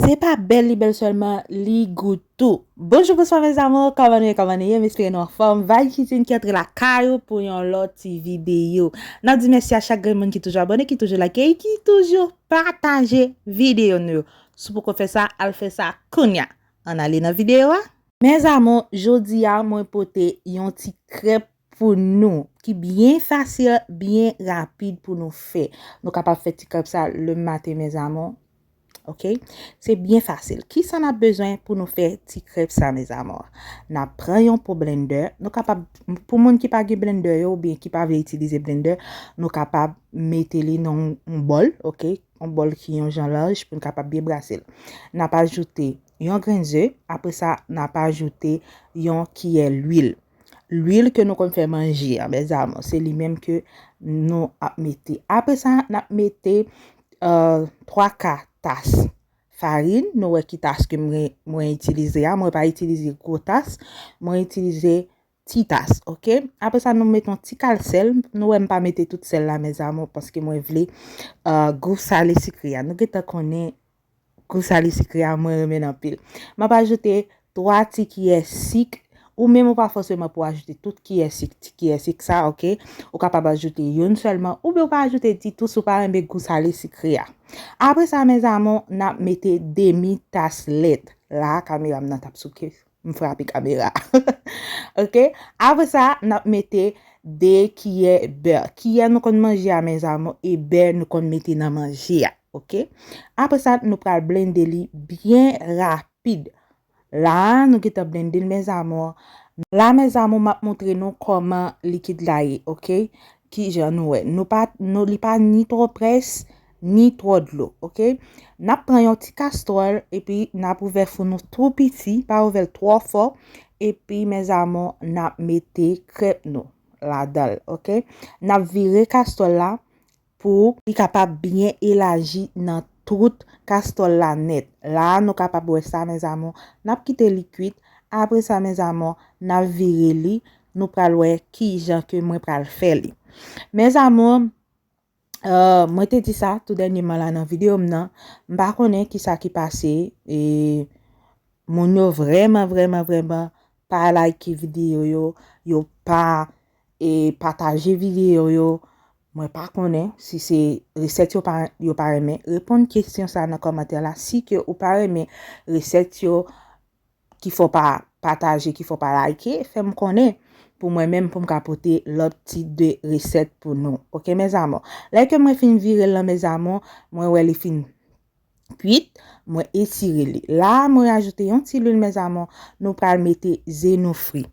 Se pa bèl li bèl sèlman li gou tou. Bonjou bonswa mes amour kòman nou ye kòman nou ye m espere nou anfòm Vibe kitchen ki antre lakay ou pou yon lòt ti videyo nap di mèsi a chak grenn moun ki toujou abòne ki toujou like e ki toujou pataje videyo nou yo si w poko fè sa al fè sa kounya ann ale nan videyo a. Mes amour jodi a mwen pote yon ti krèp pou nou, ki byen fasil, byen rapid pou nou fè. Nou kapab fè ti kòb sa le maten mes amours. Ok? Se byen fasil. Ki sa nap bezwen pou nou fè ti krèp sa mes amours? Nap pran yon po blendè, nou kapab, pou moun ki pa gen blendè yo, oubyen ki pa vle itilize blendè, nou kapab mete li nan yon bòl, ok? Yon bòl ki yon jan laj pou nou kapab byen brase l. Nap ajoute yon grenn ze, apre sa nap ajoute yon kiyè lwil. Lwil ke nou konn fè manje a mes amours, se li menm ke nou ap mete. Apre sa, n ap mete 3 euh, ka tas farin. Nou wè ki tas ke mwen itilize a. Mwen pa itilize gwo tas. Mwen itilize ti tas, ok. Apre sa, nou mete yon ti kal sèl. Nou wè m pa mete tout sèl la mes amours, paske mwen vle euh, gou sale sikre a. Nou gentan konnen. Kou sali sikre a mwen renmen l anpil. M ap ajoute 3 ti kiyè sik. Ou menm ou pa fòseman pou ajoute tout kiyè sik, ti kiyè sik sa ok. Ou kapab ajoute youn sèlman oubyen ou pa ajoute ditou si w pa renmen gou sale sikre a. Apre sa mèzamou n ap mete demi tas lèt. La a kamera m nan t ap souke. M frape kamera Ok Apre sa n ap mete 2 kiyè bè Kiyè nou konn manje a mes amour e bè nou konn mete nan manje a ok Apre sa nou pral blende li byen rapid La a nou gentan blende l mes amour La a mes amour m ap montre nou kòman likid la ye ok Kijan nou wè Nou pa Nou li pa ni twò près ni twò dlo ok nap pran yon ti kastròl epi nap ouvè fou nou tou piti pa ouvèl twò fò epi mes amour nap mete krèp nou ladanl ok nap vire kastròl la pou li kapab byen elaji nan tout kastròl la nèt la nou kapab wè sa mes amour nap kite li kuit apre sa mes amour nap vire li nou pral wè kijan ke mwen pral fè li mes amour. Euh, mwen te di sa tou dènyeman la nan videyo m nan, m pa konnen ki sa ki pase, e moun yo vreman vreman vreman pa like videyo yo, yo pa e pataje videyo yo, mwen pa konnen si se resèt yo pa yo pa renmen, reponn kesyon sa nan kòmantè la si ke ou pa renmen resèt yo. ki fè w pa pataje, ki fè w pa like, fè m konnen pou mwen menm pou m ka pote lòt ti 2 resèt pou nou. Ok mes amours. Lè ke mwen fin vire l lan mes amours, mwen wè li fin kwit, mwen etire li. La a mwen rajoute yon ti lwil mes amours, nou pral mete ze nou fri.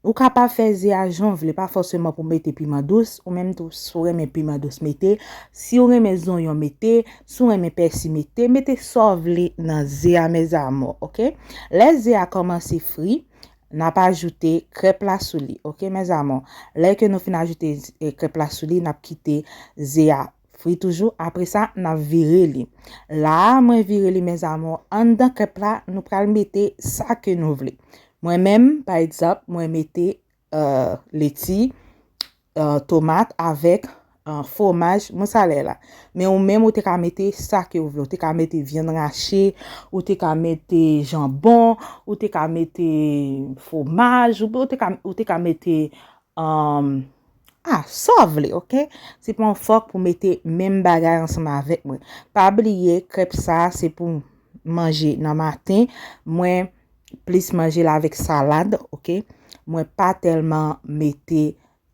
Ou ka pa fè ze a janw vle pa fòseman pou mete piman dous ou menm tou si w renmen piman dous mete siw renmen zonyon mete si w renmen pèsi mete mete sa w vle nan ze a mes amours ok lè ze a kòmanse fri nap ajoute krèp la sou li ok mes amours lè ke nou fin ajoute krèp la sou li nap kite ze a Fri toujou apresa nap vire li. La a mwen vire li mes amours anndan kep la nou pral mete sa ke nou vle. Mwen menm pa egzanp mwen mete leti, tomat avek fwomaj mousarel la. Men ou menm ou te ka mete sa ke ou vle. Ou te ka mete vyann rache, ou te ka mete janbon, ou te ka mete fwomaj, ou te ka mete... Ah, sa w vle ok. Se pa yon fòk pou mete menm bagay ansanm avèk mwen. Pa bliye krèp sa a se pou manje nan maten. Mwen plis manje l avèk salad ok. Mwen pa tèlman mete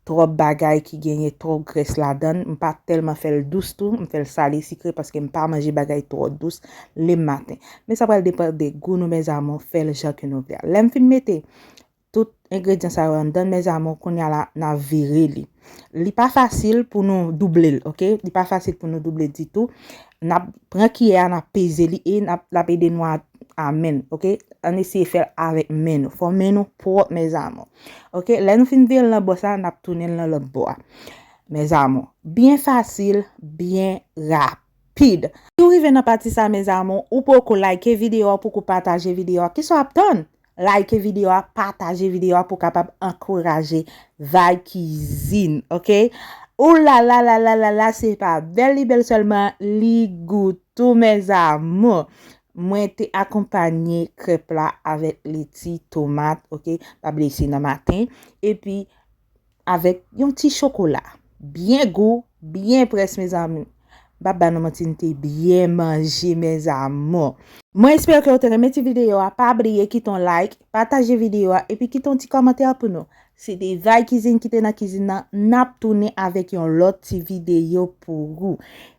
twòp bagay ki genyen twòp grès ladan l. M pa tèlman fè l dous tou. M fè l sale sikre paske m pa manje bagay twò dous le maten. Men sa pral depan de gou nou mèzamou. Fè l jan ke nou vle a. Lè m fin mete tout engredyan sa yo anndan mes amour kounya la na vire li li pa fasil pou nou double l ok li pa fasil pou nou double di tou na pran kiyè a na peze li e na la pede nou a a men ok an eseye fèl avèk men nou fò men nou pwòp mes amour ok lè nou fin vire l nan bò sa na tounen l nan lòt bò a mes amour byen fasil byen rapid. Pid. Si w rive nan pati sa mes amours ou poko like video a pouki w pataje video a kisa w ap tann like video a pataje video a pou w kapab ankouraje vibe kizin ok ooh lala lala lala se pa bèl li bèl sèlman li gou tou mes amours mwen te akonpanye krèp la avèk leti tomat ok pa bliye se nan maten epi Avèk yon ti chokola. Byen gou, byen près mezanmi. M'pap ba nou manti nou te byen manje mes amours. Mwen espere ke ou te renmen ti video a, pa bliye kite yon like, pataje video a epi kite yon ti kòmantè pou nou. Se te Vay Kizin ki te nan kizin nan, n'ap tounen avèk yon lòt ti video pou ou.